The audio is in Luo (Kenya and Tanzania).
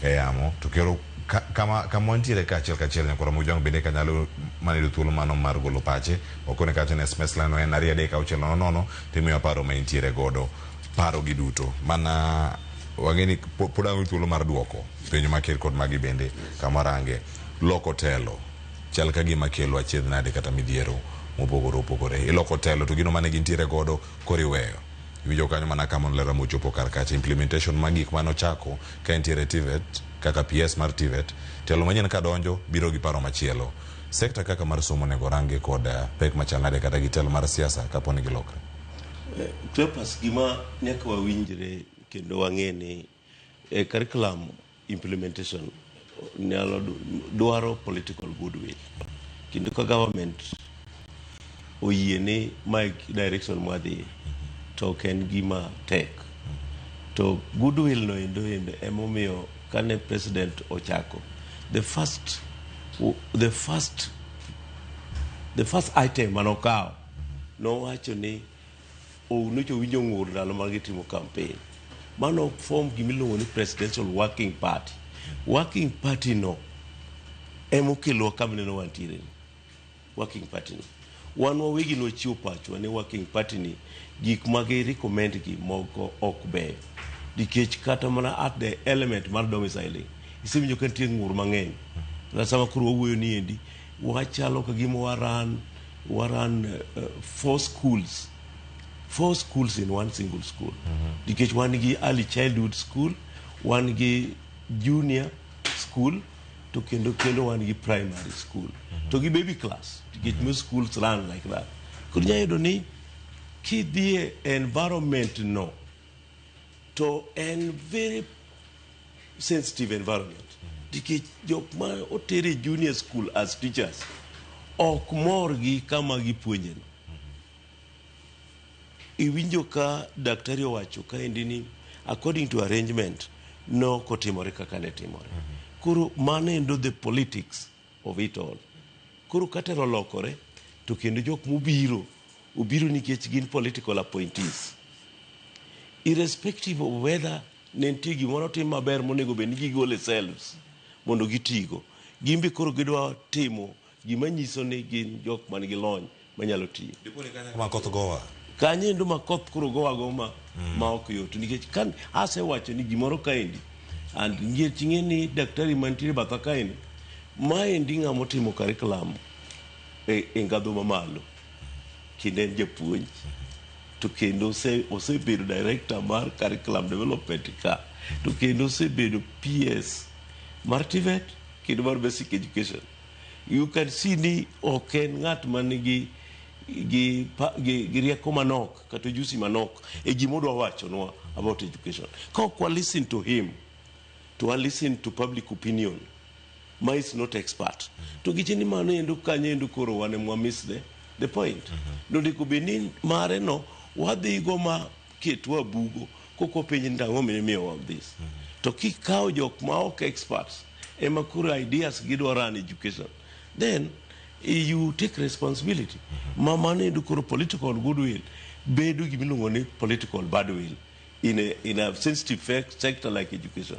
e yamo to kero kama kama wantiere ka achiel kachiel nyakoro mujwang bende ka nyalo mana yudo thuolo mano mar golo pache okone kache ne sms lano en ariyo adek auchiel nono nono timiyo paro ma intiere godo paro gi duto mana wang'eni pod ango thuolo mar duoko penjo ma ker kod magi bende kama range loko telo chal ka gima kelo achiedh nade kata midhiero mopogore opogore iloko telo to gino mane gintiere godo koriweyo Iwinjo kanyo mana ka mano ler ama ochopo kar kacha. Implementation mag gik mane ochako ka entiere e TVET kaka PS mar TVET, telo manyien ka donjo biro gi paro machielo. Sekta kaka mar somo onego orangi kod pek machal nade kata gi telo mar siasa kapo ni gilokre? Cleopas, gima nyaka wawinjre kendo wang'e ni E curriculum implementation nyalo dwaro political goodwill kendo ka government oyie ni ma direction mwadhi to ok en gima tek to goodwill no endo endo emomiyo kane president ochako the first the first the first item manokawo nowacho ni Ounocha owinjo ng'ur ndalo ma gitimo campaign. Mano ok form gima iluongo ni presidential working party. Working party no ema okelowa kama ineno wantiere ni. Working party no. Wan wawegi ne wachiwo pachwa ni working party ni gik ma gi recommend gi moko ok beyo. Nikech kata mana at the element mar domiciling, isewinjo ka nitie ng'ur mang'eny. Kata sama koro wawuoyo ni endi, Wachalo ka gima wa run, wa run uh, four schools. Four schools in one single school. Nikech wan gi early childhood school, wan gi junior school, to kendo kendo wan gi primary school. To gi baby class, nikech most schools run like that. Koro inyalo yudo ni kidhie environment no, to en very sensitive environment nikech jok ma otere junior school as teachers ok mor gi kama gipuonjeno iwinjo ka daktari owacho kaendi ni according to arrangement nokotimore kaka ne timore koro mano endo the politics of it all. Koro ka telo olokore to kendo jok mobiro obiro nikech gin political appointees. Irrespective of whether ne nitie gimoro tim maber monego bed ni gigole selves mondo gitigo. Gin be koro gidwa timo gima nyiso ni gin jok man gi lony manyalo tiyo makoth gowa kanye ndo makoth koro gowa go ma mm. ma ok yot nikech kan asewacho ni gimoro kaendi and ngie ching'e ni daktari mantiere batha kaendi maendi ng'ama otimo curriculum e, e ngadho mamalo kendo en japuonj to kendo osebedo director mar curriculum development ka to kendo osebedo ps mar tivet kendo mar basic education You can see ni ok en ng'at man gi gi, pa- gi, gi rieko manok kata ojusi manok e gima odwa wachonwa about education. Ka ok wa listen to him to wa listen to public opinion ma is not expert to giche ni mano endo kanyo endo koro wane mwa miss the, the point. Nondiko bed ni mare no wadhigo ma ketwa bugo koko penje ni ang'o mine miyo all this to kikawo jok ma ok experts ema koro ideas gidwa run education then eh, you take responsibility ma mano endo koro political goodwill bedo gimiluongo ni political badwill in a, in a sensitive fac- sector like education